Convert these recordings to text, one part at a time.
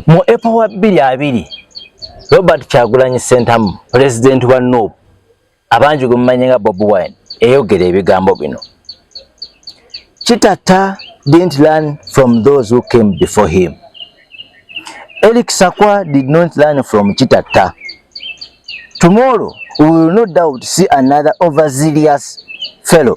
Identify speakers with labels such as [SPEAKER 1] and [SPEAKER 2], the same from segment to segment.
[SPEAKER 1] Mu April wa bbiri abiri Robert Kyagulanyi Ssentamu pulezidenti wa NUP abangi gwe mumanyi nga Bobi Wine eyogera ebigambo bino Kitata didn't learn from those who came before him. Eric Sakwa did not learn from Kitata. Tomorrow we will no doubt see another overzealous fellow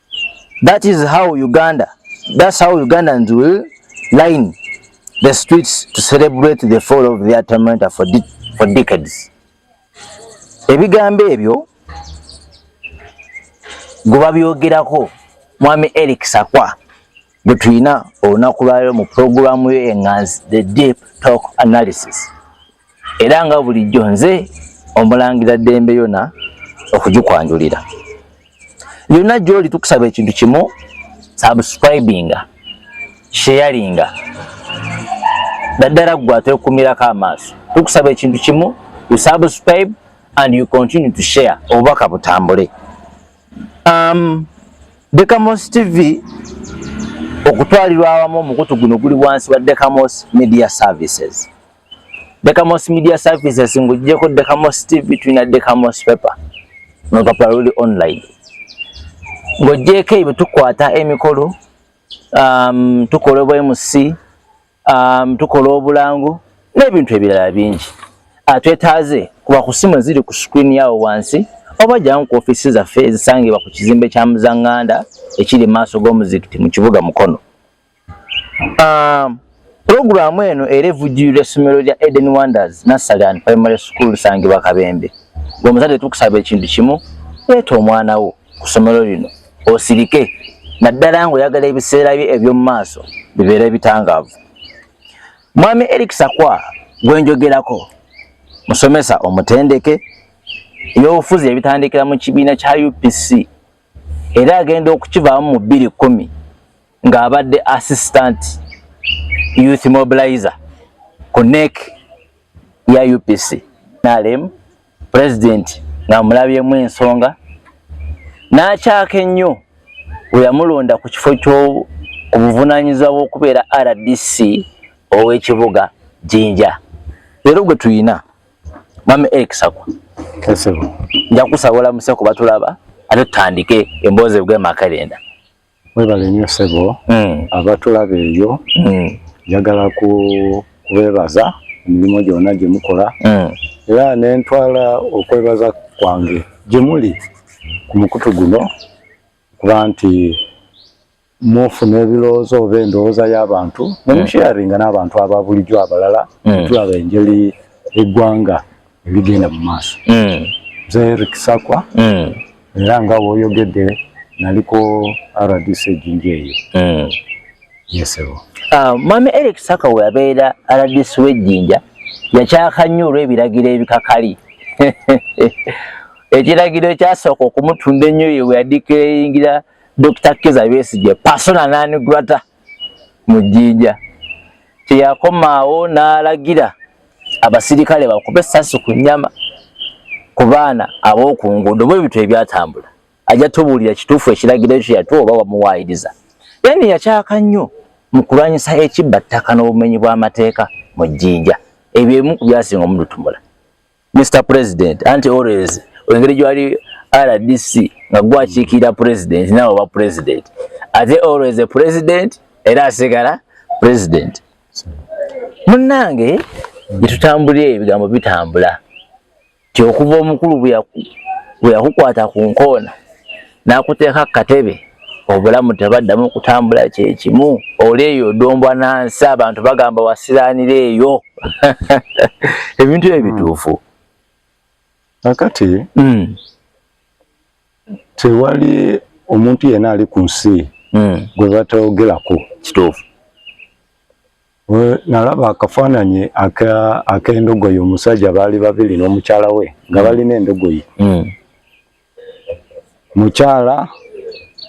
[SPEAKER 1] That is how Uganda, that's how Ugandans will line the streets to celebrate the fall of their tormentor for, de for decades. Ebigambo ebyo guba byogerako mwami Eric Sakwa gwe tulina olunaku lwalero mu pulogulaamu yo enganzi the deep talk analysis era nga bulijjo nze omulangira ddembe yona okugikwanjulira yonna gyoli tukusaba ekintu kimu subscribinga sharinga daddala ggwe atwekumirako amaaso tukusaba ekintu kimu you subscribe and you continue to share obubaka butambule um, Dekamos TV okutwalirwa awamu omukutu guno guli wansi wa Dekamos Media Services. Decamos Media Services ngujjeko Decamos TV tulina Decamos Paper nolupapula luli online ng'ogyeko ebyo tukwata emikolo um, tukola obwemusi um, tukola obulango n'ebintu ebirala bingi ah, twetaaze kuba ku simu eziri ku screen yawo wansi oba jamu ku ofisi zaffe ezisangibwa ku kizimbe kya muzanganda ekiri maaso g'omuzikiti mu kibuga mukono Um, Pulogulaamu eno era evujjirira essomero lya Eden Wonders Nassali and Primary School Sangibwa Kabembe. Gwe muzadde tukusaba ekintu kimu, leeta omwana wo ku ssomero lino osirike naddala ng'oyagala ebiseera bye eby'omu maaso bibeera ebitangaavu. Mwami Eric Sakwa gwe njogerako musomesa omutendeke eby'obufuzi ebitandikira mu kibiina kya UPC era agenda okukivaamu mu bbiri kkumi. ng'abadde assistant youth mobilizer ku nek ya upc nalem president ng'amulabyemu ensonga n'akyaka ennyo we yamulonda ku kifo ky'obuvunaanyizibwa bw'okubeera rdc ow'ekibuga jinja leero gwe tuyina mama eric sakwa
[SPEAKER 2] nja kusabula
[SPEAKER 1] museko batulaba ate tutandike emboozi bw'emakalenda Mwebale
[SPEAKER 2] nnyo ssebo hmm. abatulaba eyo hmm. njagala kubeebaza emirimu gyonna gye mukola hmm. era ne ntwala okwebaza kwange gye muli ku mukutu guno kuba nti mufuna ebirowoozo oba endowooza y'abantu ne musheyaringa n'abantu aba bulijjo abalala tulaba engeri eggwanga ebigenda mu maaso mm. nze eric sakwa mm. era nga woyogedde naliko rdc ejinja eyo mm. yesebo ah,
[SPEAKER 1] mama eric sakwa weyabeera rdc wejinja yakyaka nnyo olw'ebiragiro ebikakali ekiragiro ekyasooka okumutunda ennyo ye weyadikeyingira dr kiza besigye pasona nanigurata mu jjinja teyakomaawo n'alagira abasirikale bakube essasi ku nnyama ku baana ab'oku nguudo bwe bitwe ebyatambula ajja tubuulira kituufu ekiragiro ekyo yatuwa oba wamuwaayiriza yani yakyaka nnyo mu kulwanyisa ekibba ttaka n'obumenyi bw'amateeka mu jjinja ebyo ebimu ku byasinga omututumula mr president anti always engeri gyewali rdc nga gwakiikirira president naawe oba president ate always a president era asigala president munnange gyetutambulira ebigambo bitambula ti okuva omukulu bweyakukwata ku nkoona n'akuteeka ku katebe obulamu tebaddamu kutambula kyekimu oli eyo odombwa nansi abantu bagamba wasiranira eyo ebintu ebyo bituufu
[SPEAKER 2] kakati hmm. tewali omuntu yena ali ku nsi mm. gwe batayogerako kituufu nalaba akafaananyi ak'endogoyi omusajja baali babiri n'omukyala we nga balina endogoyi mm. mukyala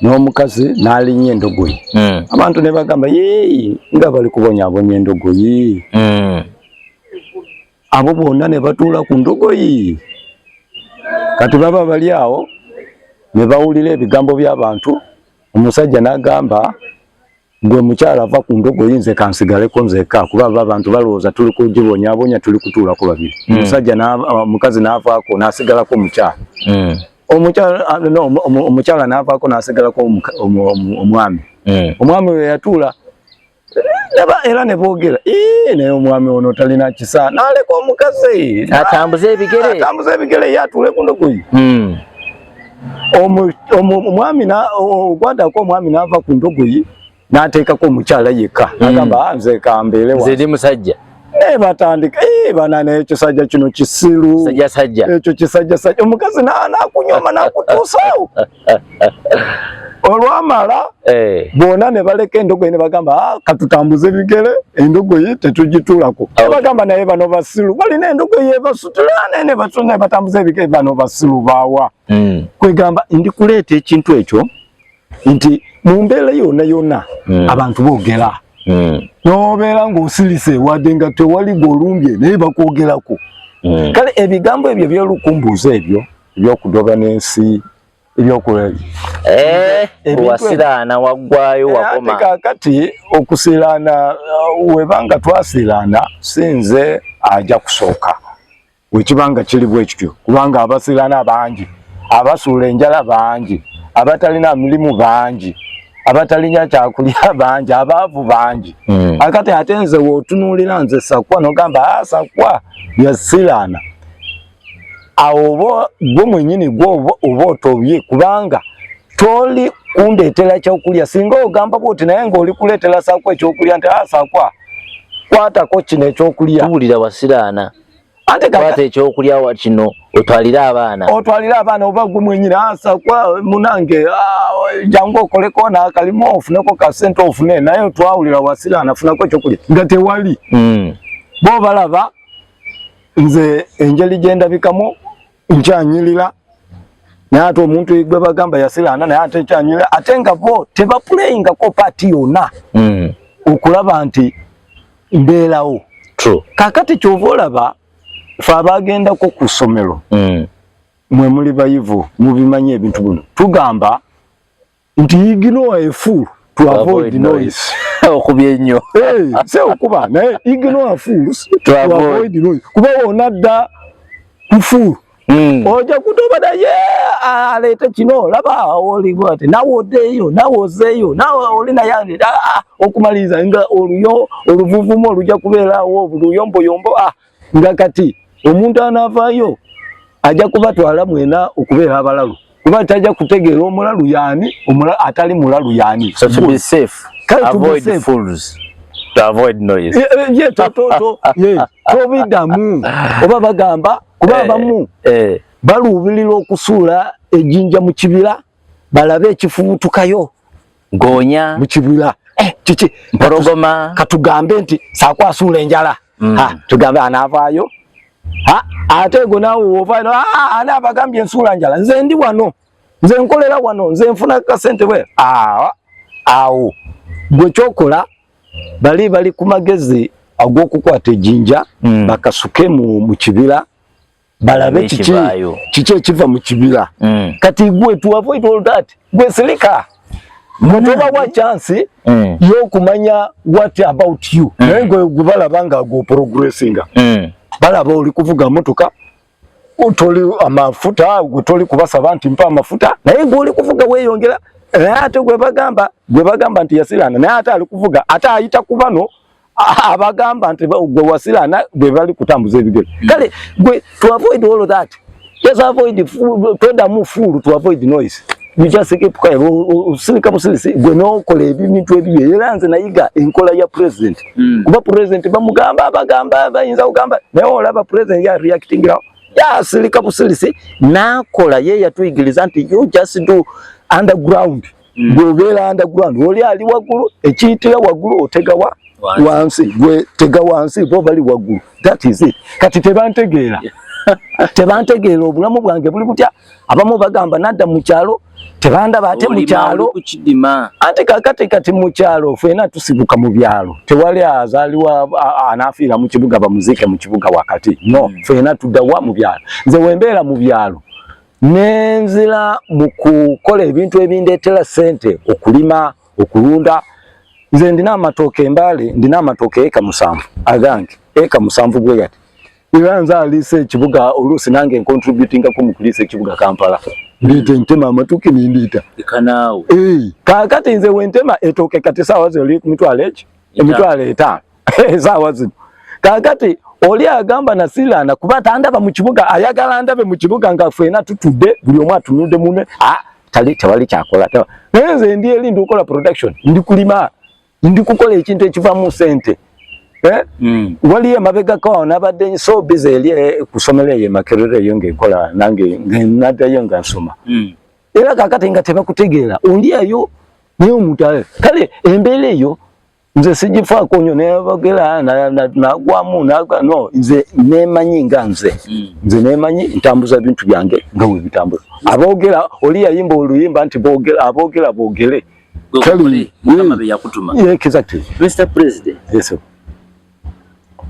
[SPEAKER 2] n'omukazi n'alinya endogoyi mm. abantu ne bagamba yee nga bali kubonyabonya endogoyi mm. abo bonna ne batuula ku ndogoyi kati baba bali awo ne bawulira ebigambo by'abantu omusajja n'agamba gwe mukyala ava ku ndogoyi nze kansigaleko nzeka kuba aba abantu balowooza tuli kugibonyabonya tuli kutuulako babiri hmm. omusajja omukazi n'avaako n'asigalako omukyala hmm. omukyala n'avaako n'asigalako omwami hmm. omwami we yatuula era ne boogera naye omwami ono talina kisa naleka omukazi atambuze ebigere
[SPEAKER 1] atambuze ebigere ye atuule ku ndogoyi hmm. omwami ogwadako omwami n'ava ku ndogoyi n'ateekako omukyala yekka hmm. agamba ah, nze kambeere nze ndi musajja eh, batandika
[SPEAKER 2] eh, bana naye ekisajja kino kisiru ekyo kisajjasajja omukazi nakunyoma nakutuusawo olwamala eh. bona ne baleka endogoyi ne bagamba ah, katutambuze bigere endogoyi tetugitulako ne bagamba naye bano basilu balina endogoyi ebasutulane ne batuna batambuze bigere bano basilu bawa mm. kwegamba ndi kuleeta ekintu ekyo nti mu mbeera yona yona mm. abantu bogera mm. nobeera ngaosilise wadde nga tewali golumbye naye bakwogerako mm. kale ebigambo ebyo byolukumbuuza ebyo ebyokudoba n'ensi ebyokuwa eh, wasiraana waggwayo eh, wakoma kakati okusiraana uh, webanga twasiraana sinze aja kusooka wekibanga kiri bwekityo kubanga abasiraana bangi abasuula enjala bangi abatalina mirimu bangi abatalinya kyakulya bangi abaavu bangi hmm. akati ate nze wotunuulira nze sakwa nogamba ah, sakwa yasiraana awo oba gwe mwenyini gwe oba otobye kubanga toli kundeetera kyokulya singa ogamba bwoti naye ngaoli kuleetera sakwa ekyokulya nti asakwa ah, kwatako kino ekyokulya tuwulira wasiraana kwata ekyokulya wa kino otwalire abaana otwalire abaana oba gwe mwenyini asakwa ah, munange ah, jangu okoleko nakalimu ofuneko kasente ofune naye twawulira wasiraana funako ekyokulya nga tewali hmm. bo balaba nze enjeli gyendabikamu nkyanyirira naye ate omuntu gwe bagamba yasiraana naye ate nkyanyirira ate nga bo tebapuleyingako paati yona hmm. okulaba nti mbeerawo kakati kyova olaba fe abagendako ku ssomero hmm. mwe muli bayivu mubimanyi ebintu bino tugamba nti ignore a fool to avoid noise okubye nnyo
[SPEAKER 1] eh, se okuba
[SPEAKER 2] naye ignore fools to avoid noise kuba wona dda ku fool hmm. oja kutoba naye aleete kino laba oliwo ati nawe odeeyo nawe ozeeyo nawe oli naye aleeta ah, ah, okumaliriza nga oluyo oluvuvumu oluja kubeerawo luyombuyombo ah, nga kati omuntu anavaayo ajja kubatwala mwena okubeera abalalu kuba tajja kutegeera omulalu yaani atali mulalu yaani so to be safe
[SPEAKER 1] Kale avoid safe. fools to avoid noise ye eh, ye to to to ye to
[SPEAKER 2] bidamu oba bagamba kuba eh, abamu eh, eh. baluubirira okusuula ejinja mu kibira balabe ekifubutukayo goonya mu kibula eh, kiki mpologoma
[SPEAKER 1] katugambe nti
[SPEAKER 2] saako asuula enjala mm. tugambe anaavaayo ate ego naawe woovaayo ana abagambye ensuula njala nze ndi wano nze nkolera wano nze nfuna kasente bwe awo gwe kyokola bali bali ku magezi ag'okukwata ejinja mm. bakasuke mu kibira balabe kiki kiki ekiva mu kibira mm. kati gwe to avoid all that gwe silika mutoba wa chance mm. yokumanya what about you mm. naye gwe balaba nga go progressinga mm. balaba oli kuvuga motoka utoli amafuta utoli kubasaba nti mpa amafuta naye gwe oli kuvuga weyongera ate gwe bagamba gwe bagamba nti yasilana naye ate ali kuvuga ate ayita kubano abagamba nti gwe wasila na gwe bali kutambuza ebigere hmm. kale gwe to avoid all of that just avoid toda mu fool to avoid noise you just keep quiet usilika musilisi gwe no kole ebintu ebiye era nze nayiga enkola ya president hmm. kuba president bamugamba abagamba bayinza kugamba naye olaba president ya reacting now ya silika busilisi nakola ye yatuyigiriza nti you just do underground mm. gwe obeera underground oli ali waggulu ekiyitira waggulu otegawa wansi gwe tega wansi bo bali waggulu that is it kati tebantegeera tebantegeera obulamu bwange buli butya abamu bagamba nadda mu kyalo tebandaba ate mu kyalo ante kakati kati mu kyalo fena tusibuka mu byalo tewali azaliwa anafiira mu kibuga bamuziike mu kibuga wakati no mm. fena tuddawa mu byalo nze wembeera mu byalo nenzira mu kukola ebintu ebindeetera ssente okulima okulunda nze ndina amatooka embaale ndina amatooka eka musanvu agange eka musanvu bwe gati era nze aliisa ekibuga oluusi nange nkontributingako mu kuliisa ekibuga kampala ndiita entema amatuki nindiita kaakati nze wentema etooke kati saawa zoli ku mitwalo eki emitwalo etaano esaawa zino kakati oli agamba nasilana kuba tandaba mu kibuga ayagala ndabe mu kibuga nga fena tutudde buli omu atunudde mune ah, tali tewali kyakola naye nze ndi eri ndi kukola production ndi kulima ndi kukola ekintu ekivamu sente eh? mm. wali emabega ko nabadde so busy eri eh, kusomera eyo makerere eyo ngekola nange nadayo nga nsoma mm. era kakati nga tebakutegeera oli eyo naye omuntu kale embeera eyo nze sigifaako nyo nebagera nagwamu no nze nemanyi nga nze hmm. nze nemanyi ntambuza bintu byange nga webitambuza abogera oli yayimba oluyimba nti bogera abogera bogere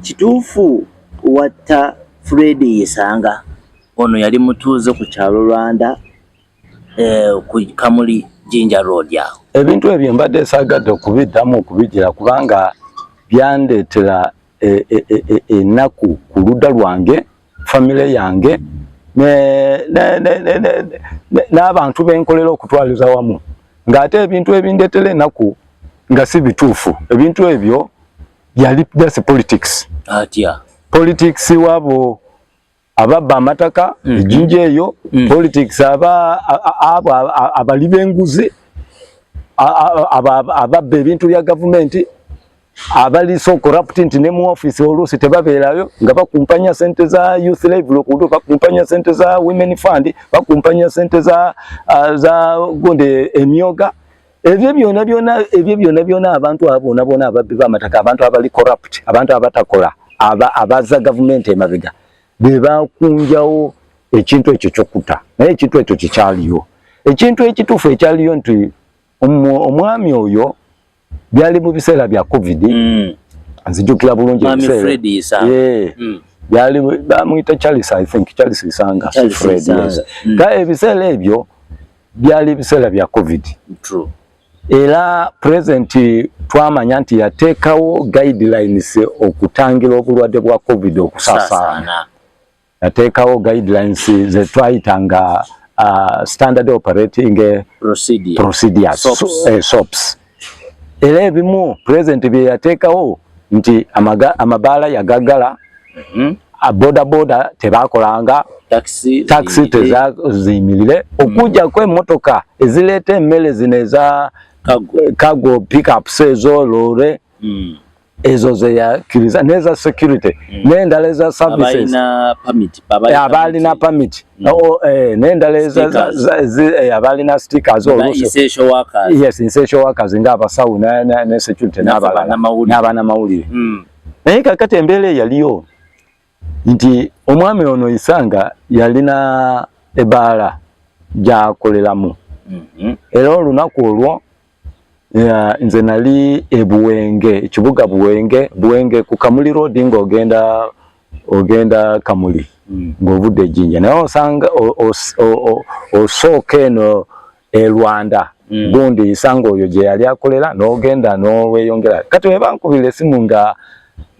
[SPEAKER 2] kituufu
[SPEAKER 1] watta fred yesanga ono yali mutuuze ku kyalo rwanda eh, ku Kamuli Jinja Road awo. Ebintu ebyo mbadde
[SPEAKER 2] saagadde okubiddamu okubigira kubanga byandeetera e, e, e, ennaku ku ludda lwange famire yange n'abantu benkolera okutwaliza wamu ng'ate ebintu ebindetera ennaku nga si bituufu ebintu ebyo yali just politics atya politics wabo ababba amataka mm. ejinja eyo mm. politics aba abo abali benguzi ababba ebintu bya gavumenti abali so corrupt nti ne mu office oluusi tebabeerayo nga bakumpanya sente za youth live lokudu bakumpanya sente za women fund bakumpanya sente za, uh, za gonde emyoga ebyo byona byona ebyo byona byona abantu abona bona ababbi bamataka abantu abali corrupt abantu abatakola aba abaza government emabiga beba kunjawo ekintu ekyo kyokuta naye ekintu ekyo kikyaliyo ekintu ekitufu ekyaliyo nti omwami oyo byali mu biseera bya covid mm. nzijukira bulungi mm. byali bamuyita charles i think charles isanga fred yes. mm. ka ebiseera ebyo byali biseera bya covid True.
[SPEAKER 1] era
[SPEAKER 2] pulezidenti twamanya nti yateekawo guidelines okutangira obulwadde bwa covid okusaasaana yateekawo guidelines ze twayita nga uh, standard operating eh, procedures sops eh, era ebimu pulezidenti bye yateekawo nti amabaala yagaggala mhm. bodaboda tebakolanga takisi tezaziyimirire mhm. okujjako emmotoka ezireeta emmere zino eza kago pickups ezo loore mhm. ezo zeyakiriza neza security mm. nendala eza services abalina permit mm. oh, eh, nendala eh, abalina stickers
[SPEAKER 1] yes essential workers
[SPEAKER 2] nga abasawo ne security n'abana mawulire mm. naye kakati embeera eyaliyo nti omwami ono isanga yalina ebaala gyakoleramu mhm. era olunaku olwo nze nali ebuwenge ekibuga buwenge buwenge ku kamuli road nga ogenda ogenda kamuli mm. ng'ovudde ejjinja naye osanga osooka eno e Rwanda mm. gundi isango oyo je yali akolela nogenda noweyongera kati webankubira esimu nga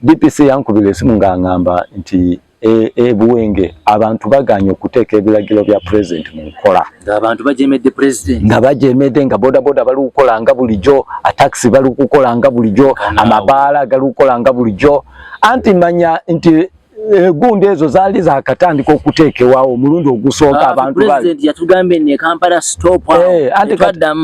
[SPEAKER 2] DPC yankubira esimu nga ngamba nti e, e buwenge abantu baganye okuteeka ebiragiro bya president mu nkola ng'abantu bajemedde
[SPEAKER 1] president nga bajemedde nga
[SPEAKER 2] bodaboda bali kukola nga bulijjo atakisi bali kukola nga bulijjo amabaala gali kukola nga bulijjo anti manya nti egundi eh, ezo zaali zakatandika okuteekewawo omulundi ogusooka ah,
[SPEAKER 1] abantu eh,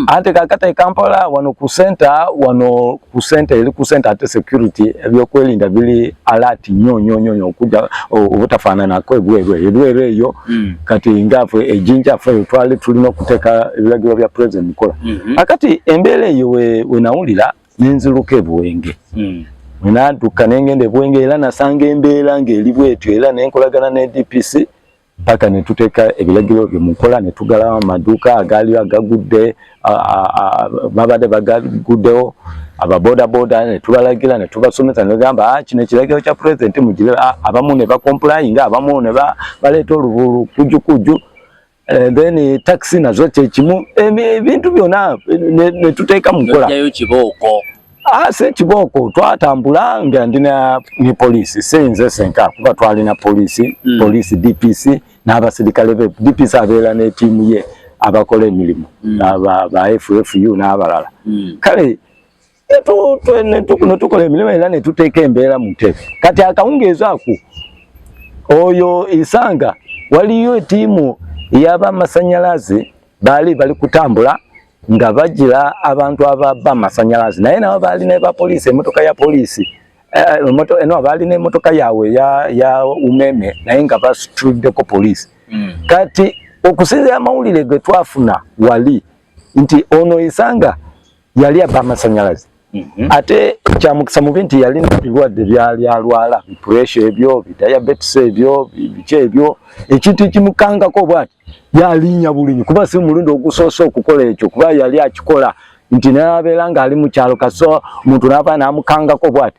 [SPEAKER 1] ante
[SPEAKER 2] kakata ekampala wano ku senta wano ku senta eri ku senta ate security ebyokwerinda biri alert nyo nyo nyo nyo okuja obutafaananako ebweru ebweru eyo hmm. kati ngafe ejinja fe twali tulina okuteeka ebiragiro bya president mukola hmm. akati embeera eyo wenawulira nenziruka ebuwenge mm. nantuka nengenda ebuwenge era nasanga embeera ngaeri bwetyo era nenkolagana ne dpc mpaka netuteeka ebiragiro byo mukola netugalawo amaduuka agaaliyo agagudde babadde bagaguddewo ababodaboda netubalagira netubasomesa negamba ah, kino ekiragiro kya pulezidenti mugire ah, abamu nebakompulayi nga abamu nebaleeta oluvulu kujukujju Eh, then eh, taxi nazo kyekimu ebintu byona netuteeka mukola ah, se kibooko twatambula nga ndina ne poliisi sinze senka kuba twalina poliisi mm. poliisi dpc n'abasirikale be dpc abeera n'etiimu ye abakola emirimu mm. ba ffu n'abalala mm. kale netukola emirimu era netuteeka embeera mu ntebe kati akawungeezi ako oyo isanga waliyo etiimu yabamasanyalaze baali bali kutambula nga bajira abantu ababa amasanyalaze naye nabo baali nebapoliisi emotoka ya poliisi eh, no baali nemotoka yaabwe ya umeme naye nga basituddeko poliisi hmm. kati okusinzira amawulire getwafuna wali nti ono isanga yali aba amasanyalaze mhm. ate kyamukisa mubi nti yalina ebirwadde byali alwala bipuresha ebyo bidiabetes ebyo biki ebyo ekintu ekimukangako bwati yalinya bulinyi kuba si mulundi ogusoose okukola ekyo kuba yali akikola nti nabeera nga ali mukyalo kaso omuntu nava namukangako bwati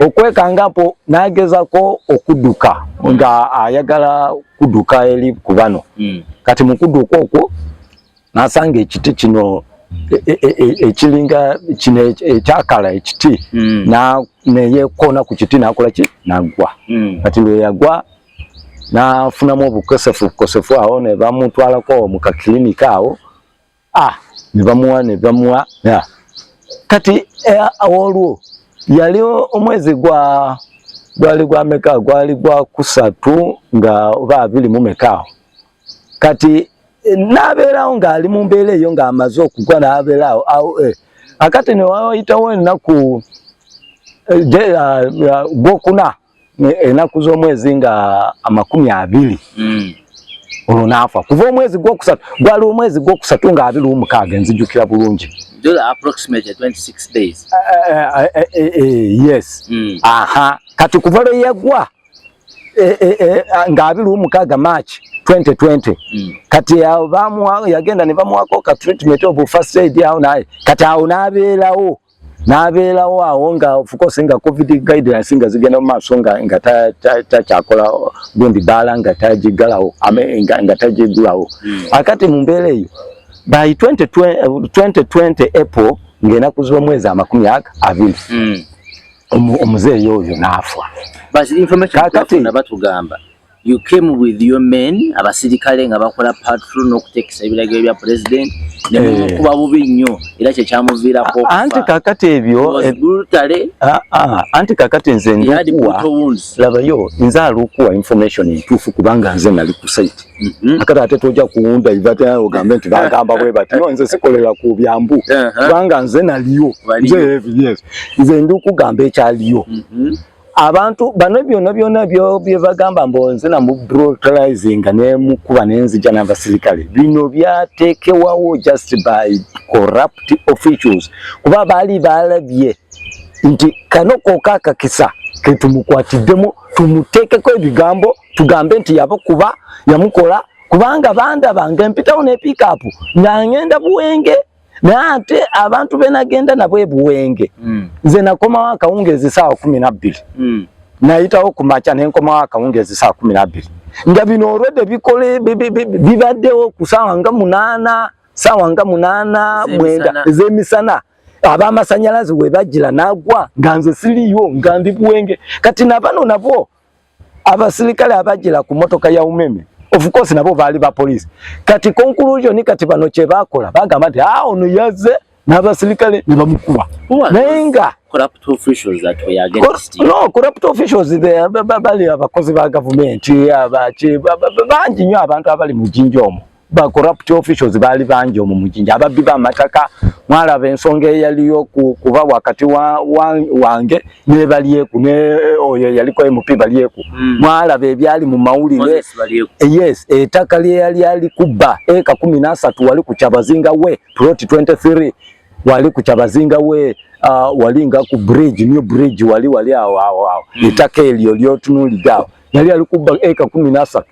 [SPEAKER 2] okwekangapo nagezako okuduka nga ayagala kuduka eri ku bano hmm. kati mu kuduka okwo nasanga ekiti kino e, e, e, ekiringa kino ekyakala ekiti hmm. neyekoona ku kiti nakola ki nagwa hmm. kati lweyagwa nafunamu obukosefu bukosefu awo nebamutwalako mu kakilinika awo ah nebamuwa nebamuwa yeah. kati eh, awolwo yali omwezi gwa gwali gwa meka gwali gwa kusatu nga oba abiri mu mekaawo kati eh, nabeerawo ng'ali mu mbeera eyo ng'amaze okugwa nabeerawo awo eh. akati newayitawo ennaku eh, ah, ah, gwokuna enaku z'omwezi nga amakumi abiri mm. olwo naafa kuva omwezi gwokusatu gwali omwezi gwokusatu nga abiri omukaaga enzijukira bulungi
[SPEAKER 1] yes
[SPEAKER 2] aha kati kuva lwe yagwa eh, eh, eh, ah, nga abiri omukaaga march 2020 mm. kati yagenda ne bamuwako ka treatment of first aid awo naye kati awo n'abeerawo n'abeerawo awo nga ofukose nga covid guidelines nga zigenda mu maaso nga nga takyakola gundi baala nga tagiggalawo nga tagiggulawo hmm. akati mu mbeera eyo by 2020 eh, april ng'enaku z'omwezi amakumi aga abiri
[SPEAKER 1] hmm.
[SPEAKER 2] omuzeeyi oyo
[SPEAKER 1] n'afa kakati You came with your men abasirikale nga bakola patrol n'okuteekesa ebiragiro bya president ne eh. mumukuba bubi nnyo era kye kyamuviirako anti kakati
[SPEAKER 2] ebyo eh, ah, ah, anti kakati nze ndukuwa labayo nze alukuwa information entuufu kubanga nze nali ku site mhm. akati ate toja kuwunda ivata ogambe nti bagamba bwe bati no nze sikolera ku byambu uh-huh. kubanga nze naliyo nze yes nze ndukugamba ekyaliyo mhm. abantu bano byona byona byo byebagamba mbonze na mu brutalizing ne mukuba nenzija na basirikale bino byatekewawo just by corrupt officials kuba bali balabye nti kano kokaka kisa ketumukwatiddemu tumutekeko ebigambo tugambe nti yabo kuba yamukola kubanga banda bange mpitawo ne pick up nga ngenda buwenge naye ate abantu benagenda nabo ebuwenge mm. nze nakomawo akawungeezi saawa kumi nabbiri mm. nayitawo ku makya nenkomawo akawungeezi saawa kumi nabbiri nga bino olwedde bikole bibaddewo ku saawa nga munaana saawa nga munaana mwenda ezemisana abamasanyalazi webajira nagwa nga nze siriyo nga ndi buwenge kati nabano nabwo abasirikale abajjira ku motoka ya umeme of course nabo baali ba police kati conclusion kati bano kye bakola bagamba nti ah ono yazze n'abasirikale ne bamukuba naye nga corrupt officials
[SPEAKER 1] that were against you no corrupt officials
[SPEAKER 2] they bali abakozi ba government abaki bangi nyo abantu abali mu jinja omo ba corrupt officials bali bangi omu mujinja ababbi ba mataka mwalaba ensonga eyaliyo ku, kuba wakati wa, wa, wange nebalyeku ne oyo yaliko mp balyeku mm. mwalaba ebyali mu mawulire yes etaka lyeyali ali kubba eka kumi nasatu wali ku kyabazinga we plot 23 wali ku kyabazinga we uh, wali nga ku bridge new bridge wali wali awo awo awo mm. etaka elyo lyotunuligawo yali ali kubba eka kumi nasatu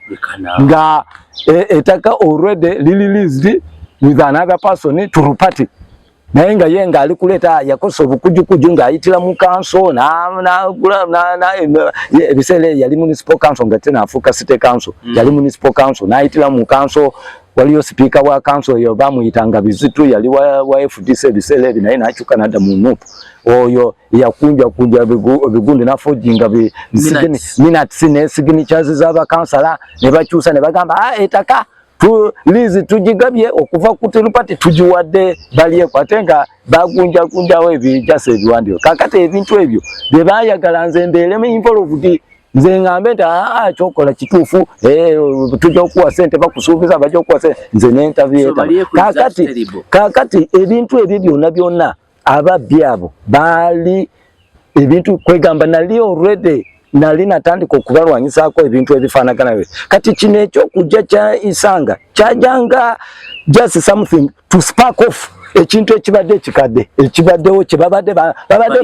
[SPEAKER 2] nga e, etaka already lililised with another person to party naye nga ye nga ali kuleeta yakosa obukujukuju ng'ayitira mu kanso ebiseera eyo yali municipal council nga tena afuuka city council mm. yali municipal council n'ayitira mu kanso waliyo sipiika wa kanso eyo bamuyitanga bizitu yali wa fdc ebiseera ebyo naye n'akyuka n'adda mu nup oyo yakunja kunja bigundi nafojinga minatsi ne signatures z'abakansala ne bakyusa ne bagamba ah, etaka liizi tugigabye okuva ku tirupati tugiwadde balyeko ate nga bagunjagunjawo ebijasa ebiwandiiko kakati ebintu ebyo bye baayagala nze mbeeremu involved nze ngambe nti aa ah, ah, kyokola kituufu eh, tujja okuwa sente bakusuubiza bajja okuwa sente nze nentabyeta kakati kakati ebintu ebyo byonna byonna ababbi abo baali ebintu kwegamba nali already nali natandika okubalwanyisaako ebintu ebifaanagana byo kati kino ekyokujja kya isanga kyajanga just something to spark off ekintu ekibadde ekikadde ekibaddewo kyebabadde babadde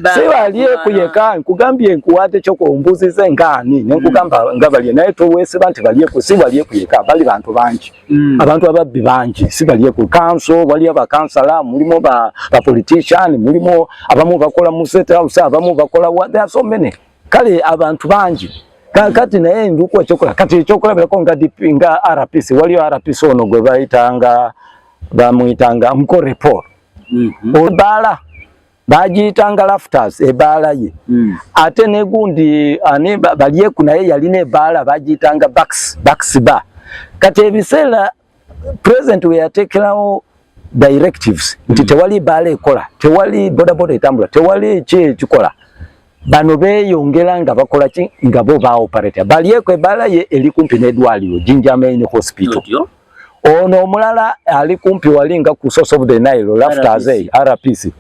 [SPEAKER 2] bansiwalyeku yeka nkugambye nkuwaate kyokumbuuziza enkaani nenkugamba nga balye naye towesiba nti balyeku siwalyeku yeka bali bantu bangi Mm. abantu ababbi bangi si balye ku kanso waliyo bakansala mulimu ba, ba politician mulimu abamu bakola mu state house abamu bakola wa there are so many kale abantu bangi kati naye nduku ekyokola kati ekyokola birako nga DP nga RPC waliyo RPC ono gwe bayitanga bamuyitanga mkore Paul mm -hmm. obala bagiyitanga laftas ebaala ye mm. ate negundi ani balyeku naye yalina ebaala bagiyitanga baks baks ba kati ebiseera president weyatekerawo directives nti mm. tewali baala ekola tewali bodaboda etambula tewali ki ekikola bano beyongera nga bakola ki nga bo ba operator bali ekwe balaye eli kumpi ne dwaliro Jinja Main Hospital ono omulala ali kumpi wali nga ku source of the Nile after azay RPC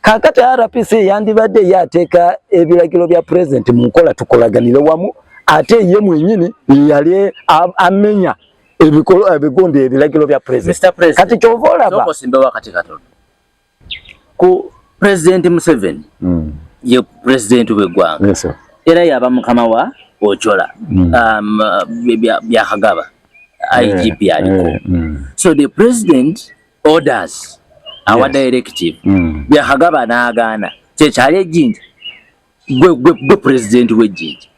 [SPEAKER 2] kakati RPC yandibadde yateka ebilagiro bya president mu nkola tukolaganire wamu ate ye mwenyini yali amenya ebikolo ebigondi ebilagiro bya president kati kyovola ba
[SPEAKER 1] ku president Museveni mm. ye president we gwanga yes, era yaba
[SPEAKER 2] mukama wa
[SPEAKER 1] ochola mm. um, bya hagaba eh, IGP yeah, aliko yeah, mm. so the president orders our yes. directive mm. bya hagaba naagaana kyekyali ejinja gwe gwe gwe president we jiji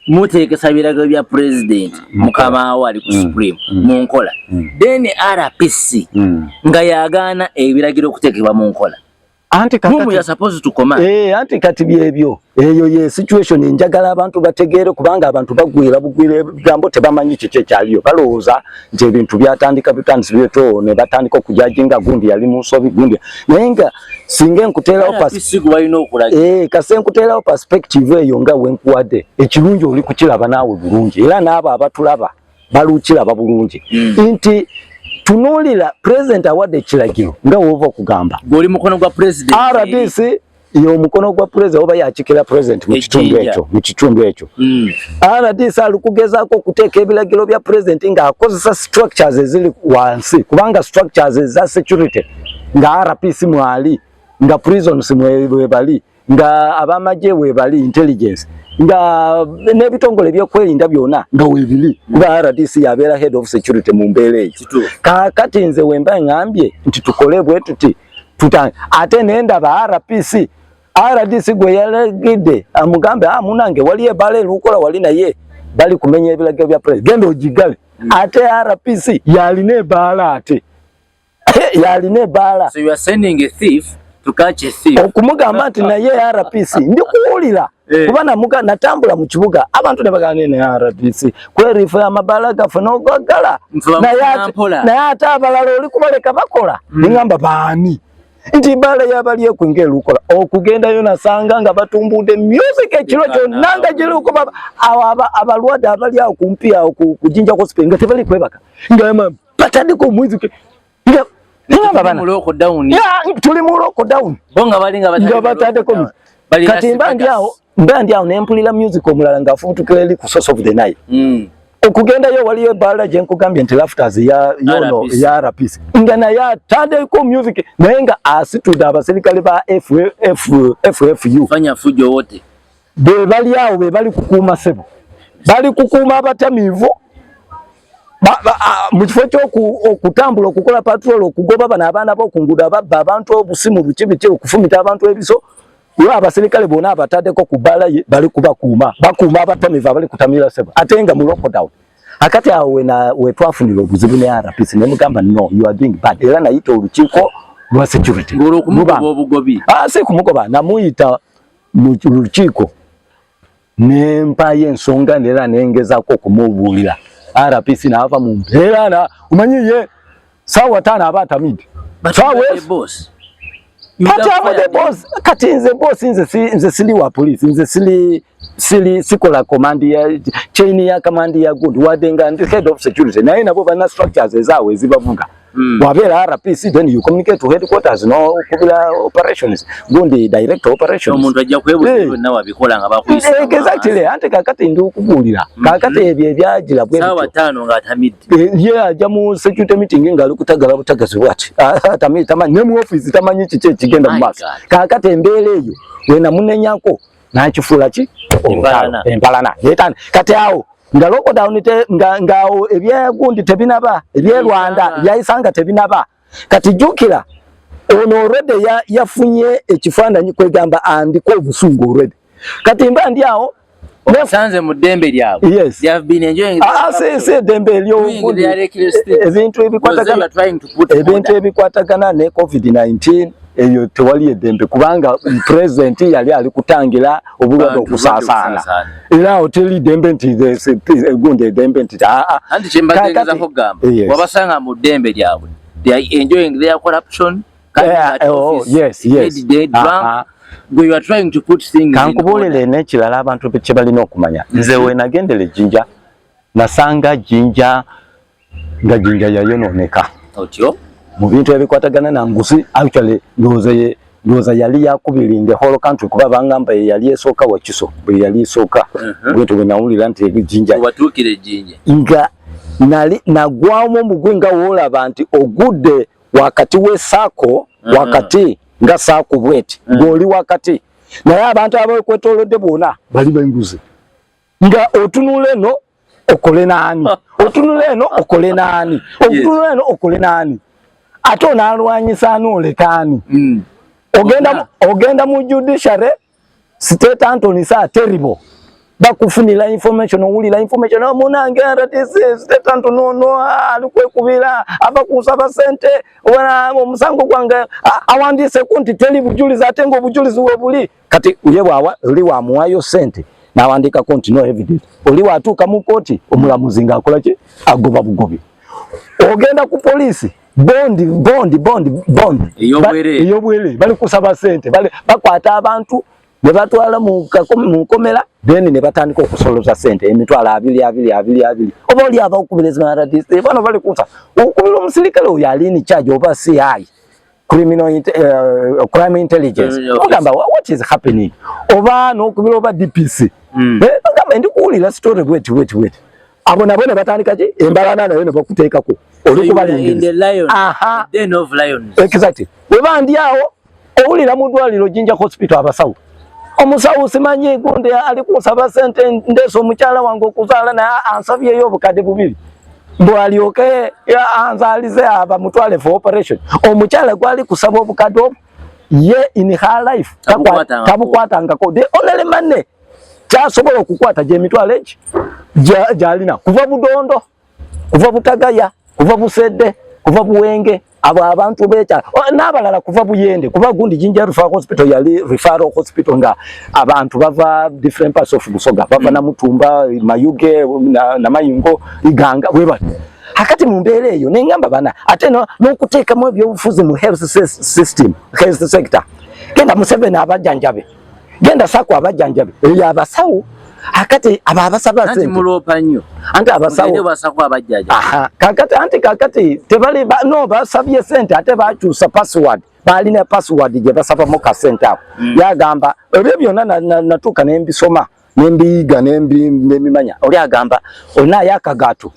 [SPEAKER 1] mutekesa birago bya president mm. mukama wali ku mm. supreme mm. mu nkola then RPC nga yagana ebiragiro kutekebwa mu nkola anti
[SPEAKER 2] kati mumu ya supposed to command
[SPEAKER 1] eh anti kati byebyo
[SPEAKER 2] eyo ye situation njagala abantu bategeere kubanga abantu bagwira bugwire gambo tebamanyi kiki kyaliyo balowooza nti ebintu byatandika bitandisi byeto ne batandika okujajinga gundi yali mu nsobi gundi naye nga singa enkuteerawo eh, kasi enkuteerawo perspective eyo nga wenkuwadde ekirungi oli kukiraba naawe bulungi era naabo abatulaba balukiraba bulungi hmm. nti tunuulira pulezidenti awadde ekiragiro nga woova okugamba
[SPEAKER 1] rdc
[SPEAKER 2] yomukono gwa pulezidenti oba yakikira pulezidenti mu kitundu ekyo mu kitundu ekyo hmm. rdc ali kugezaako okuteeka ebiragiro bya pulezidenti ng'akozesa structures eziri wansi kubanga structures eza security nga RP simwali nga prison simwebali nga abamaje webali intelligence nga nebitongole byokwerinda byona nga webili kuba RDC yabera head of security mu mbeera eyo kakati nze wemba ngambye nti tukole bwe tuti tuta ate nenda ba RPC RDC gwe yalegide amugambe ah munange wali ebale lukola wali naye bali kumenya ebilagiro bya president genda ojigale mm. ate RPC yali ne bala ate yalina ebaala
[SPEAKER 1] okumugamba nti naye
[SPEAKER 2] RPC ndi kuwulira eh. kuba namuga natambula mu kibuga abantu ne bagana ne RPC kwerifu ya mabala gafe nogagala naye ate abalala oli kubaleka bakola mm. ningamba baani nti bala yabali ekwinga elukola okugendayo nasanga nga batumbude music ekiro kyonna nga giruko baba abalwadde abali awo kumpi awo ku jinja hospital nga tebali kwebaka nga batandika omwezi tuli mu lockdown nga
[SPEAKER 1] batandeko
[SPEAKER 2] kati mba ndi awo mba ndi awo nempulira music omulala ng'afubutukira eri ku source of the night hmm. okugendayo waliyo ebaala gye nkugambye nti lafters yono ya rps nga naye atandeko music naye nga asitudde abaserikale ba ffu
[SPEAKER 1] be bali awo
[SPEAKER 2] be bali kukuuma sebo bali kukuuma abatamiivu mu kifo kyokutambula okukola patrol okugoba bano abaana bokungudo ababba abantu obusimu bukibiki okufumita abantu ebiso yo abaserikale bona abatadeko ku bala ye bali kubakuuma bakuuma abatamiivu abali kutamira sebo ate nga mu lockdown akati awo wena wetwafunira obuzibu ne RPC ne mugamba no you are doing bad era nayita olukiiko lwa security ngolo kumugoba
[SPEAKER 1] obugobi ah si kumugoba
[SPEAKER 2] namuyita mu lukiiko ne mpaayo ensonga neera ne ngezaako okumubuulira RPC n'ava mu mbeera na omanyi ye saawa taano aba atamidde
[SPEAKER 1] kati abude boss
[SPEAKER 2] kati nze boss nze si nze sili wa police nze sili sili sikola command ya chain ya command ya good wadenga ndi head of security naye nabo bana structures ezawe zibavuga Mm. Wabera RPC then you communicate to headquarters no kubila operations gundi direct operations. Omuntu ajja kwebuza hey. Eh.
[SPEAKER 1] nawa bikola nga bakuyisa. Hey, eh, exactly ante
[SPEAKER 2] kakati ndi okubulira. Mm. Kakati mm. ebye byajila bwe. Sawa tano nga tamid.
[SPEAKER 1] Eh, ye yeah, yeah, jamu
[SPEAKER 2] security meeting nga lukutagala butagazi what. Ah, tamid tamani ne mu office tamanyi kiche kigenda mu maso. Kakati embele eyo wena munenyako nakifuula ki olutalo empalana yetani kati awo nga lockdown nga ngawo ebyegundi tebinaba ebyerwanda byayisanga tebinaba kati jukira ono already yafunye ekifaananyi kwegamba andiko obusungu already kati mba ndi awo osanze mu
[SPEAKER 1] ddembe lyabwe yes. they have been enjoying ah, ah si si ddembe
[SPEAKER 2] ery'obundi ebintu ebikwatagana ebintu ebikwatagana ne covid 19 eyo tewali edembe kubanga president yali ali kutangira obulwadde okusaasaana era awo teri dembe nti egundi edembe nti aa ah, ah. anti kyembagenza
[SPEAKER 1] kugamba wabasanga mu ddembe lyabwe they are enjoying their corruption yeah, eh, oh,
[SPEAKER 2] yes, yes. Dead, dead, uh -huh.
[SPEAKER 1] Gwe you are trying to put things kankubuulire n'ekirala
[SPEAKER 2] abantu kye balina okumanya nze wenagendera ejjinja nasanga jjinja nga jinja yayononeka otyo
[SPEAKER 1] mu bintu
[SPEAKER 2] ebikwatagana na nguzi actually ndowooza ye ndowooza yali yakubiri in the whole country kuba bangamba ye yali esooka wakiso bwe yali esooka mhm. bwintu bwe nawulira nti ejinja watuukira ejinja
[SPEAKER 1] nga
[SPEAKER 2] nali nagwamu omugwi nga woolaba nti ogudde wakati w'esaako mhm. wakati nga saako bweti mhm. ng'oli wakati naye abantu abekwetolodde bona bali benguzi nga otunula eno okole naani otunula eno okole naani otunula eno okole naani ate onalwanyisa ani olekaani mm. ogenda, ogenda mu judiciary state antony sa terrible bakufunila information owulila information ah, munange rdc state antony ono ah, alikwekubila ava kunsaba sente omusango gwange ah, awandiise kunti teri bujulizi ate nga obujulizi webuli kati ye bwawa oli wamuwayo sente nawandiikako nti no evidence oli watuuka mu kooti omulamuzi ngaakola ki agoba bugobi ogenda ku poliisi bondi bondi bondi bondi eyobwerere bali kusaba sente bakwata abantu ne batwala mu nkomera then ne batandika okusoloza sente emitwalo abiri abiri abiri abiri oba oli aba okubirezima rdc bano bali kusa okubira omusirikale oyo alini charge oba si ayi criminal uh, crime intelligence ogamba what is happening oba nokubira oba DPC mm. eh, ogamba ndi kuwulira story wait wait wait abo nabo ne batandika ki embalana nayo ne bakuteekako oli kubalengera aha den of
[SPEAKER 1] lions exactly weba
[SPEAKER 2] ndi awo owulira mu ddwaliro jinja hospital abasawo omusawo simanyi gundi ali kunsaba sente ndeesa omukyala wange okuzaala naye ansabyeyo obukadde bubiri bwalyoke anzalize aba mutwale for operation omukyala gwali kusaba obukadde obwo ye in her life tabukwatangako the only money kyasobola okukwata gyemitwalo egi gyalina kuva budondo kuva butagaya kuva busedde kuva buwenge abo abantu bekyala oh, n'abalala kuva buyende kuva gundi jinja referral hospital yali referral hospital nga abantu bava different parts of busoga bava mm. na mutumba mayuge na, na mayingo iganga webati hakati mu mbeera eyo nengamba bana ate n'okuteekamu ebyobufuzi mu health system health sector genda museveni abajanjabe genda sako abajanjabi eyo abasawo akati aba abasaba sente anti mulopa nyo
[SPEAKER 1] anti abasawo ngende
[SPEAKER 2] basako abajaja
[SPEAKER 1] aha kakati anti kakati
[SPEAKER 2] tebali ba, no basabye sente ate bakyusa password bali na password je basaba mu ka sente awo mm. yagamba ebyo byona natuka na, na nembisoma nembiyiga nembi nemimanya oli agamba olina ayo akagato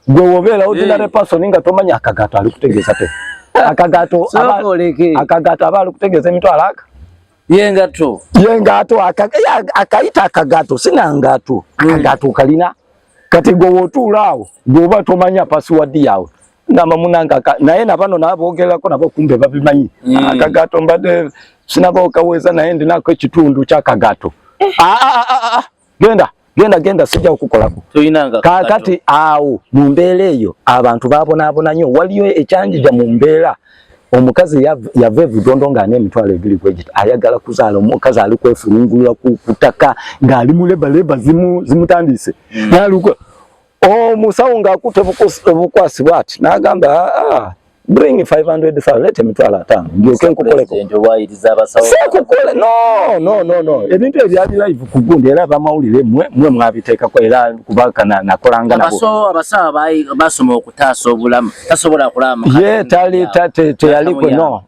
[SPEAKER 2] gwe wobeera ordinary person nga tomanya akagato ali kutegeeza te akagato akagato aba ali kutegeeza emitwalo aka yengato
[SPEAKER 1] yengato
[SPEAKER 2] akayita akagato sina ngato hmm. akagato kalina kati gwe wotuula awo gweoba tomanya password yawe ngamba munanga naye nabano nabogerako nabo kumbe babimanyi hmm. akagato mbadde sinaba okaweza naye ndinako ekitundu kyakagato eh. ah, ah, ah, ah, ah. genda genda genda sijja okukolako kakati awo mu mbeera eyo abantu babonaabona nyo waliyo ekyanjija mu mbeera omukazi yava evudondo nga ana emitwalo ebiri kwegita ayagala kuzaala omukazi ali kwefulungulula kutaka ng'ali mu lebaleba zimutandiise hmm. naluka omusawo ng'akutte obukwasi bwati n'agamba ah, ah, bring 500,000 let him twala atano ndyoke nkukoleko sekukole no no no no ebintu ebyali live ku gundi era abamawulire mwe mwe mwabiteekako era kubakana nakolanga nabobasoma
[SPEAKER 1] okutaasa obulamu tasobola kulama ye tali
[SPEAKER 2] teyaliko no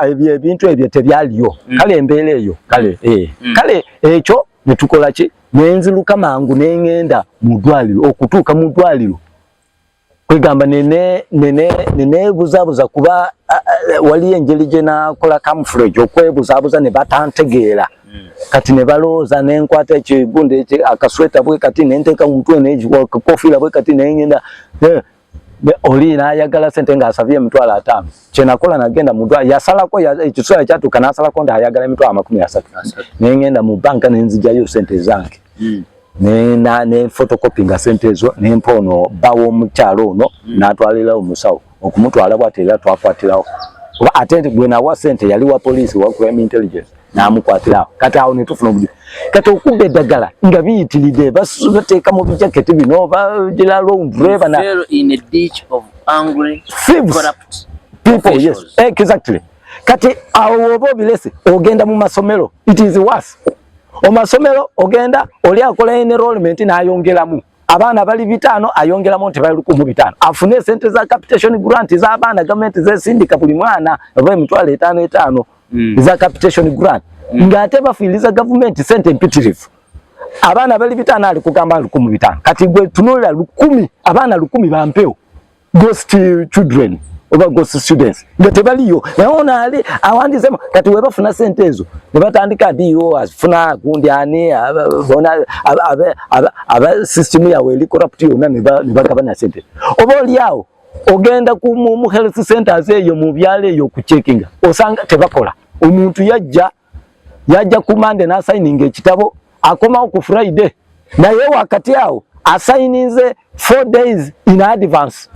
[SPEAKER 2] ebyo ebintu ebyo tebyaliyo hmm. kale embeera eyo kale eh. hmm. kale ekyo netukola ki nenziluka mangu nengenda mu ddwaliro okutuuka mu ddwaliro kwegamba nene nene nene buzabuza kuba wali enjeli gye nakola camouflage okwebuzabuza ne batantegeera hmm. kati ne balooza ne nkwata ekigundi akasweta bwe kati ne nteeka mu mutwe ne ekikofiira bwe kati ne ngenda eh, oli nayagala sente nga asabye emitwalo ataano kyenakola nagenda mudwa yasalako ekiseera kyatuuka nasalako nti ayagala emitwalo amakumi asatu naye ngenda mu banka nenzijayo sente zange hmm. nefotokopi nga sente ezo nempa ono bawa omukyalo ono hmm. natwalirawo omusawo okumutwala bwati era twakwatirawo oba ate nti gwenawa sente yali wa poliisi wa crime intelligence n'amukwatira awo kati awo netufuna obuju kati okuba eddagala nga biyitiride bateeka mu bijaketi bino bagira londreva na
[SPEAKER 1] people
[SPEAKER 2] yes exactly kati awo woba obilese ogenda mu masomero it is worse omasomero ogenda oli akola enrollment n'ayongeramu abaana bali bitaano ayongeramu nti bali lukumu bitaano afune esente za capitation grant z'abaana gavumenti zesindika buli mwana oba emitwalo etaano etaano mm. eza capitation grant mm. nga ate bafiiriza gavumenti sente empitirivu abaana bali bitaano ali kugamba lukumi bitaano kati gwe tunulira lukumi abaana lukumi bampewo ghost children oba ghost students nga tebaliyo naye ono ali awandizemu kati webafuna sente ezo ne batandika do afuna gundi ani aba system yawe eli corrupt yona ne bagabana sente oba oliawo ogenda ku mu health centers eyo mu byalo eyo ku checking osanga tebakola omuntu yajja yajja ku mande na signing ekitabo akomawo ku friday
[SPEAKER 3] naye wakati awo asayininze four days in advance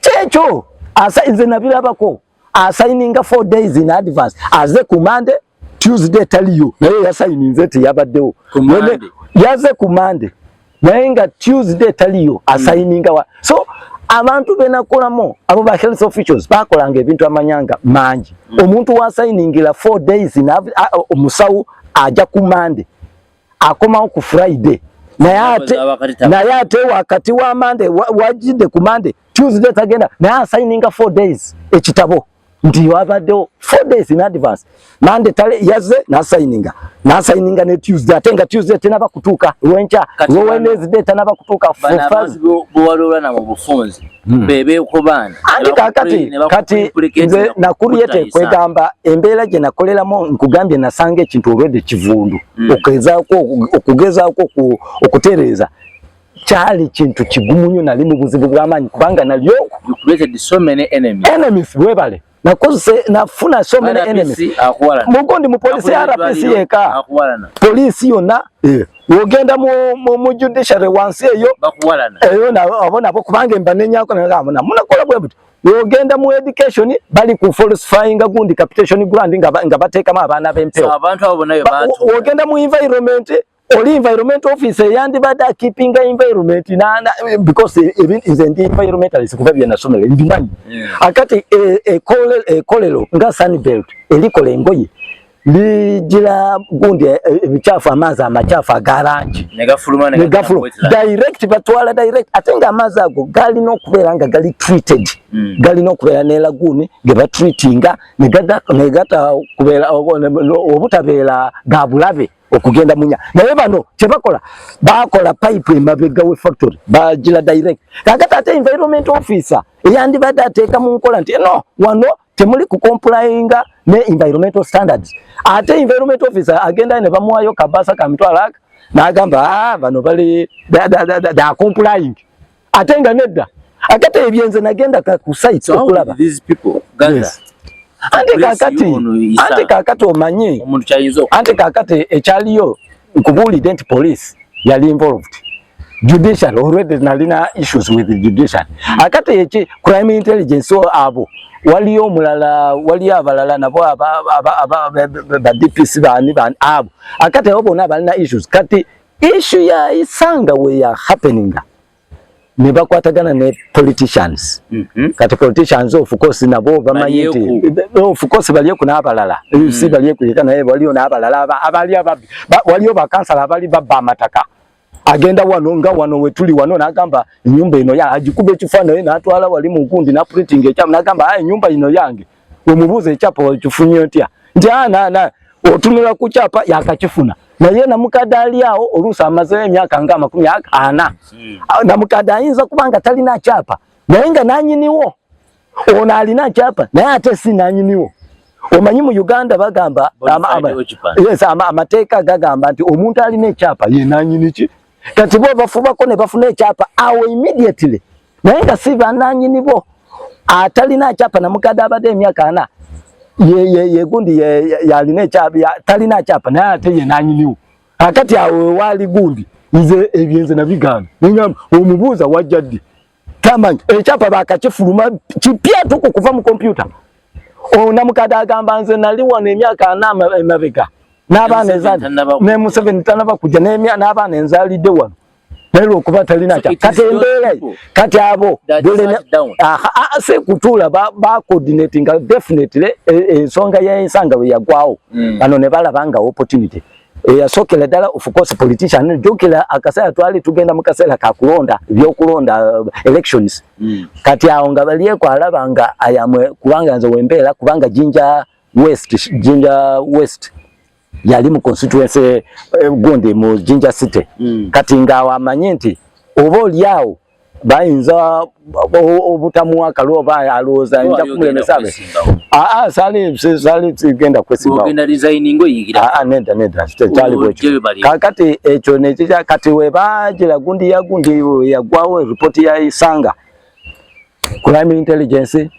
[SPEAKER 3] kyekyo asayize nabirabako asayininga four days in advance aze ku mande tuesday taliyo naye yasayininze nti yabaddewo yaze ku mande naye nga tuesday taliyo asayininga wa so abantu benakolamu abo ba health officials bakolanga ebintu amanyanga mangi mm. omuntu wasayiningila four days omusawo aja ku mande akomawo ku friday naye ate naye ate wakati wa mande wajidde ku mande tuesday tagenda naye asayininga four days ekitabo nti wabaddewo four days in advance mande tale yaze nasayininga nasayininga ne tuesday ate nga tuesday tenaba kutuuka lwenkya lwe wednesday tanaba kutuuka bwewaloola
[SPEAKER 1] na mu bufunzi Hmm. bebekobaana andi kakati kati
[SPEAKER 3] nze nakuluyete kwegamba embeera gye nakoleramu nkugambye nasanga ekintu olwedde kivundu hmm. okugezaako okutereeza kyali kintu kigumu nyo nali mu buzibu bw'amaanyi kubanga nalyo
[SPEAKER 1] webale
[SPEAKER 3] nakozese nafuna so many enemies mugo ndi mupolisi ya RPC yeka polisi yona eh. wogenda mu mu, mu judiciary wansi eyo bakuwalana eyo na abona bo kubange mbanenya ako na kamuna muna kola bwe buti wogenda mu education bali ku falsifying gundi capitation grant nga nga bateka ma abana bempeo so abantu abo nayo bantu
[SPEAKER 1] wogenda mu environment
[SPEAKER 3] oli environment office eyandibadde akipinga environment nana because nze ndi environmentalist kuva bye nasomera mbimanyi akati ekolero e, e nga sunbelt erikola engoye ligira gundi e, ebikyafu amaazi amakyafu agarangi negafuluma direct batwala direct ate nga amaazi ago galina okubeera nga gali treated mm. galina okubeera nelaguuni gebatreatinga negata kubeera obutabeera gabulabe okugenda munya naye bano kyebakola bakola pipe emabega we factory bagila direct kakati ate environment officer eyandibadde ateeka mu nkola nti no wano temuli kukompulainga ne environmental standards ate environment officer agenda ne bamuwayo kabasa kamitwalo aka n'agamba ah, bano bali da complying ate nga nedda akati ebyenze nagenda ku site okulaba these people gather
[SPEAKER 1] yes. ante kakati
[SPEAKER 3] ante kakati omanyi omuntu chayizo ante kakati ekyaliyo nkubuli dent police yali involved judicial already nalina issues with the judicial akati eki crime intelligence so abo waliyo omulala waliyo abalala nabo aba aba aba ba DPC bani bani abo akati abo bona balina issues kati issue ya isanga we ya happening ne bakwatagana ne politicians mm -hmm. kati politicians of course nabo bamanyi nti of course bali ku nabalala mm -hmm. si bali ku yekana yebo waliyo nabalala abali ababi ba, waliyo bakansala abali babba amataka agenda wano nga wano wetuli wano nagamba nyumba ino ya ajikube kifano ye natwala wali mu nkundi na printing ekyamu nagamba ayi nyumba ino yange wemubuuza ekyapa wakifunye otya nti anana otunula ku kyapa yakakifuna naye namukadde ali awo oluusi amazeyo emyaka nga amakumi ana namukadde ayinza kuba nga talina kyapa naye nga nanyiniwo ono alina kyapa naye ate si nanyiniwo omanyi mu uganda bagamba amateeka gagamba nti omuntu alina ekyapa yenanyiniki kati bo bafubako ne bafuna ekyapa awo immediately naye nga si bananyini bo atalina akyapa namukadde abadde emyaka ana yegundi yalina ekyapa talina akyapa naye ate ye nanyiniwo akati awo wewaali gundi nze ebyenze nabigaana nenyamba omubuuza wajja ddi tamanyi ekyapa bakakifuluma kipya tuku kuva mu kompyuta ona mukade agamba nze nali wano emyaka ana emabega n'abaana ezali ne museveni tanaba kujja n'abaana enzalidde wano naye lwokuba talina kya kati embeera kati abo se kutuula bacoordinatinga definitely e, e, ensonga y'ensanga bwe yagwawo mm. bano ne balaba nga opportunity eyasokera ddala of course politician jukira akaseera twali tugenda mu kaseera ka kulonda ebyokulonda uh, elections mm. kati awo nga balieko alaba nga ayamwe kubanga nze wembeera kubanga jinja west jinja west yali mu constituency eh, gundi mu jinja city mm. kati nga awo amanye nti oba olyawo bayinza obutamuwa akalu oba alowooza nja kumulemesa be aa sali sali genda kwesimbawoneda neda
[SPEAKER 1] kyali
[SPEAKER 3] bwekyo kakati ekyo nekikya kati webajira gundi ya gundi yagwawo ripoti ya isanga crime intelligence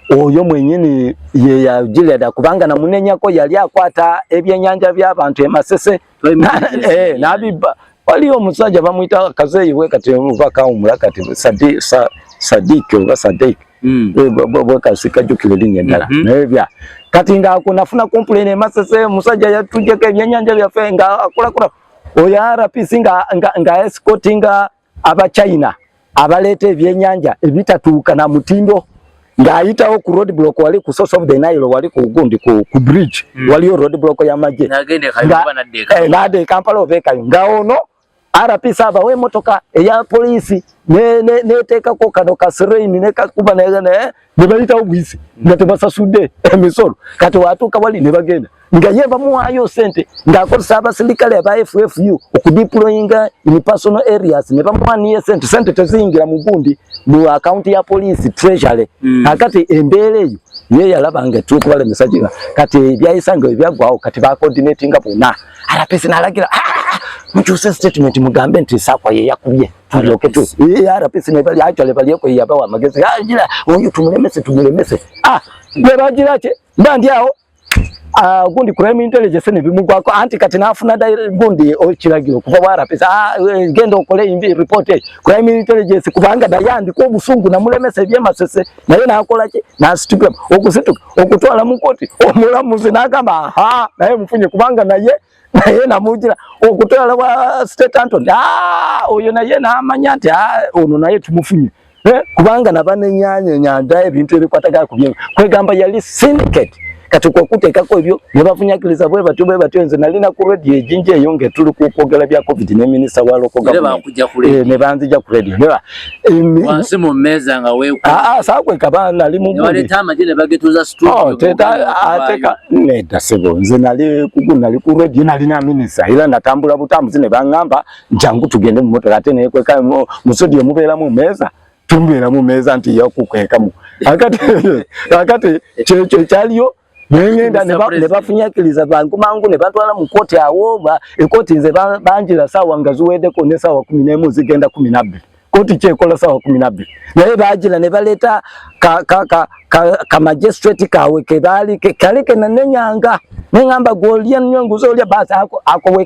[SPEAKER 3] oyo mwenyini ye ya Gileada kubanga na munenya ko yali akwata ebyenyanja bya bantu emasese eh nabiba wali omusaja bamuita kazeyi we kati mubaka umula kati sadi sa, sadiki oba sadik mm. we bwa bwa kasika jukile linye ndala mm -hmm. nebya kati nga kuna funa complain emasese musaja yatuje ke byenyanja bya fe nga akula kula oya RPC nga nga, nga escortinga aba China abaleeta ebyenyanja ebitatuuka na mutindo ng'ayitawo ku road block wali ku source of the Nile wali ku gundi ku, ku bridge mm. waliyo road block ya maje nade eh, Kampala obekayo nga ono RPC abawa emotoka eya polisi neteekako ne kano ka sirain nekakuba ne, ne, nebayitawo buyisi nga tebasasudde emisolo kati watuuka wali nebagenda nga ye bamuwaayo sente ng'akozesa abasirikale aba ffu okudiployinga in personal areas ne bamuwaniye sente sente teziyingira mu gundi mu akaunti ya poliisi treasury mm. akati embeera eyo ye yalaba nga etukubalemesa gina kati ebyayisa nga ebyaggwawo kati bacoordinatinga bonna arapesi nalagira ah, ah, ah, mukyuse statement mugambe nti sakwa yeyakubye tuloke tu hii RPC ne bali acho le bali yako ya bawa magezi ah jira huyu tumulemese tumulemese ah ne bajira che bandi yao ah gundi crime intelligence ne bimu kwako anti kati nafuna da gundi ochiragiro kuva wa RPC ah eh, genda okole imbi report eh. crime intelligence kubanga da yandi ko busungu na mulemese bye masese na yena akola che na situka okusituka okutwala mukoti omulamuzi nakamba ha naye mfunye kubanga naye naye namugira okutwala wa state antony ah, oyo naye namanya nti ah, ono naye tumufunye eh, kubanga nabanenyanya enyanja ebintu ebikwatagala ku byengo kwegamba yali syndicate kati kwokuteekako ebyo ne bafunyakiriza bwe batyo bwe batyo nze nali na ku radio ejinja eyo ng'etuli ku kwogera bya covid ne minisita wa lokoga eh, ne banzija ku radio wansi mu
[SPEAKER 1] mmeeza nga weekwesakweka ah, ah, baana
[SPEAKER 3] ali mubaleta amagye ne bagetuza
[SPEAKER 1] situateka oh,
[SPEAKER 3] nedda sebo nze nali kugu nali ku redio nalina minisa era natambula butambuzi ne baŋŋamba njangu tugende mu motoka ate neekweka musodi omubeera mu mmeeza tumubeera mu mmeeza nti yakukwekamu akati kyekyo ekyaliyo nengenda nebafunyakiriza bangu mangu nebantwala mu kkooti awo ekkooti nze banjira saawa nga ziweddeko ne saawa kumi nemu zigenda kumi nabbiri kkooti kyekola saawa kumi nabbiri naye bajira nebaleeta kamagistrate kawe kebaali kali kenanenyanga nengamba gwolya nyo nguza olya baasi akowe ako